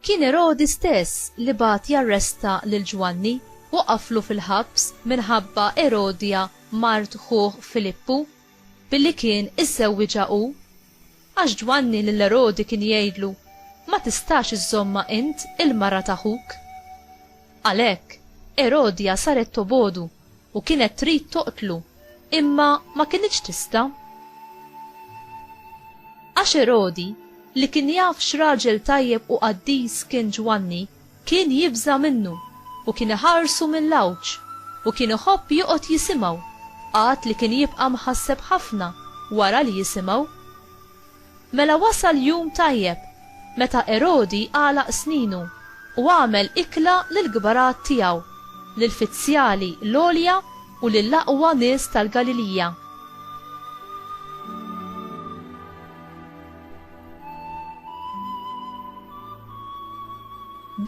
Kien Erodi stess li bat jarresta lil Ġwanni u qaflu fil-ħabs minħabba Erodja mart ħuh Filippu billi kien iżżewwiġha hu. Għax Ġwanni lil Erodi kien jgħidlu, Ma tistax iżżommha int, il-mara ta' ħuk. Għalhekk, Erodja saret tobogħdu u kienet trid toqtlu, imma ma kinitx tista'. Għax Erodi, li kien jaf x'raġel tajjeb u qaddis kien Ġwanni, Kien jibża' minnu, u kien iħarsu mill-għawġ, u kien iħobb joqgħod jisimgħu, għad li kien jibqa' mħasseb ħafna wara li jisimgħu. Mela wasal jum tajjeb, meta Erodi għalaq sninu, u għamel ikla lill-kbarat tiegħu, lill-fizzjali l-għolja u lill-aqwa nies tal-Galilija.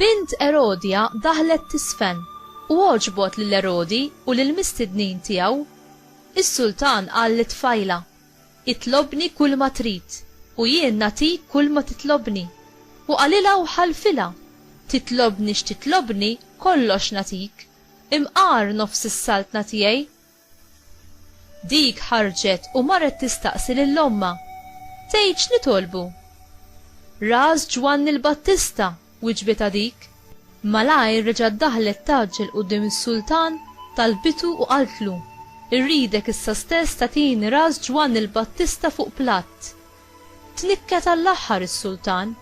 Bint Erodja daħlet tiżfen, u għoġbot lil Erodi u lill-mistednin tiegħu. Is-sultan qal lit-tfajla, Itlobni kulma trid, u jien nagħtik kulma titlobni. U qalilha u ħalfilha, Titlobni x'titlobni, kollox nagħtik. Imqar nofs is-saltna tiegħi, Dik ħarġet u marret tistaqsi lil ommha, Tgħid x'nitolbu? Ras Ġwanni l-Battista, wiġbitha dik. Malajr reġgħet daħlet tgħaġġel quddiem is-sultan, talbitu u qaltlu, Irridek issa stess tagħtini ras Ġwanni l-Battista fuq platt. Tnikket għall-aħħar is-sultan,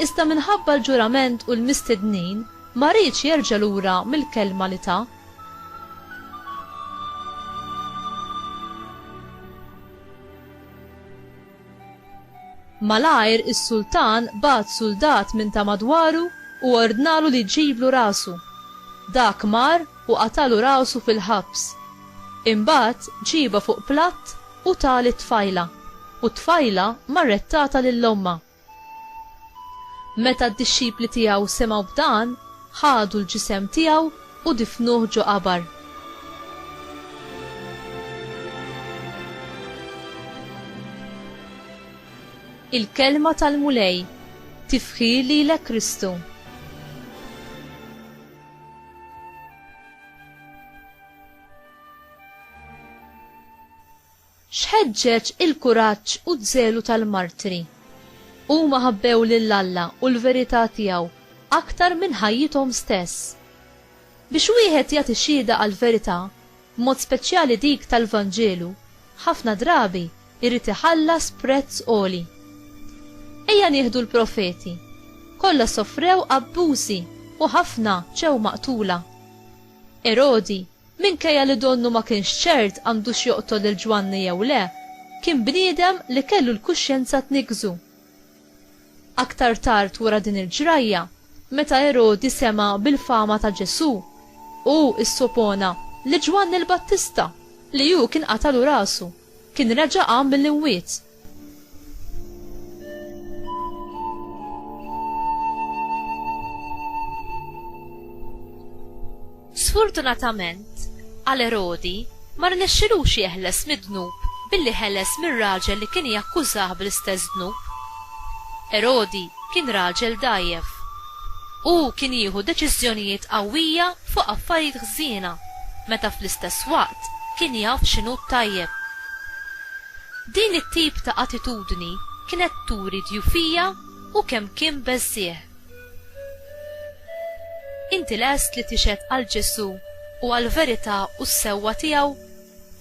iżda minħabba l-ġurament u l-mistednin ma riedx jerġa' lura mill-kelma li ta. Malajr is-sultan bagħat suldat minn ta' madwaru u ordnalu li jġiblu rasu. Dak mar u qatalu rasu fil-ħabs. Imbagħad ġiebha fuq platt U tah lit-tfajla, u t-tfajla marret tatha lil ommha. Meta d-dixxipli tiegħu semgħu b'dan, ħadu l-ġisem tiegħu u difnuh ġo qabar. Il-Kelma tal-Mulej Tifħir lilek Kristu! X'ħeġġeġ il-kuraġġ u ż-żelu tal-martri. Huma ħabbew lil Alla u l-verità tiegħu aktar minn ħajjithom stess. Biex wieħed jagħti xhieda għall-verità, b'mod speċjali dik tal-Vanġelu, ħafna drabi jrid iħallas prezz għoli. Ejja nieħdu l-profeti. Kollha sofrew abbużi u ħafna ġew maqtula. Erodi Minkejja li donnu ma kienx ċert għandux joqtol lil Ġwanni jew le, kien bniedem li kellu l-kuxjenza tniggżu. Aktar tard wara din il-ġrajja, meta Erodi sema' bil-fama ta' Ġesù, hu issopona li Ġwanni l-Battista, li hu kien qatallu rasu, kien reġa' qam mill-imwiet. Sfortunatament, għal Erodi ma rnexxilux jeħles mid-dnub billi ħeles mir-raġel li kien jakkużah bl-istess dnub. Erodi kien raġel dgħajjef. Hu kien jieħu deċiżjonijiet qawwija fuq affarijiet ħżiena meta fl-istess waqt kien jaf x'inhu t-tajjeb. Din it-tip ta' attitudni kienet turi djufija u kemm kien beżżiegħ. Inti lest li tixhed għal Ġesù u għall-verità u s-sewwa tiegħu,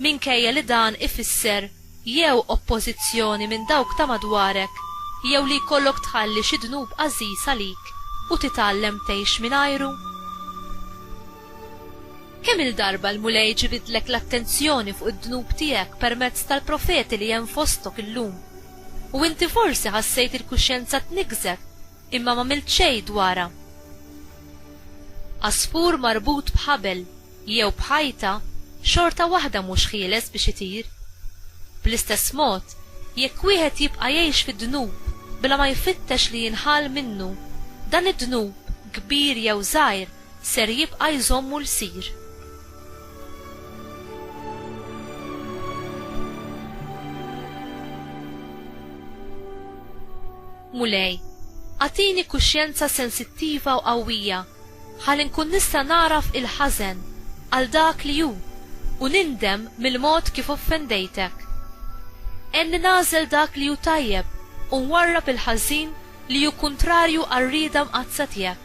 minkejja li dan ifisser jew oppożizzjoni minn dawk ta' madwarek jew li jkollok tħalli xi dnub għażiż għalik u titgħallem tgħix mingħajru? Kemm-il darba l-Mulej ġibidlek l-attenzjoni fuq id-dnub tiegħek permezz tal-profeti li hemm fostok illum? U inti forsi ħassejt il-kuxjenza tniggżek imma m'għamilt xejn dwarha. Għasfur marbut b'ħabel jew b'ħajta xorta waħda mhux ħieles biex itir. Bl-istess mod, jekk wieħed jibqa' jgħix fid-dnub bla ma jfittex li jinħall minnu, dan id-dnub, kbir jew żgħir, ser jibqa' jżommu lsir. Mulej, agħtini kuxjenza sensittiva u qawwija ħalli nkun nista' nagħraf il-ħażen għal dak li hu u nindem mill-mod kif offendejtek. Għenni nagħżel dak li hu tajjeb u nwarrab il-ħażin li hu kuntrarju għar-rieda mqaddsa tiegħek.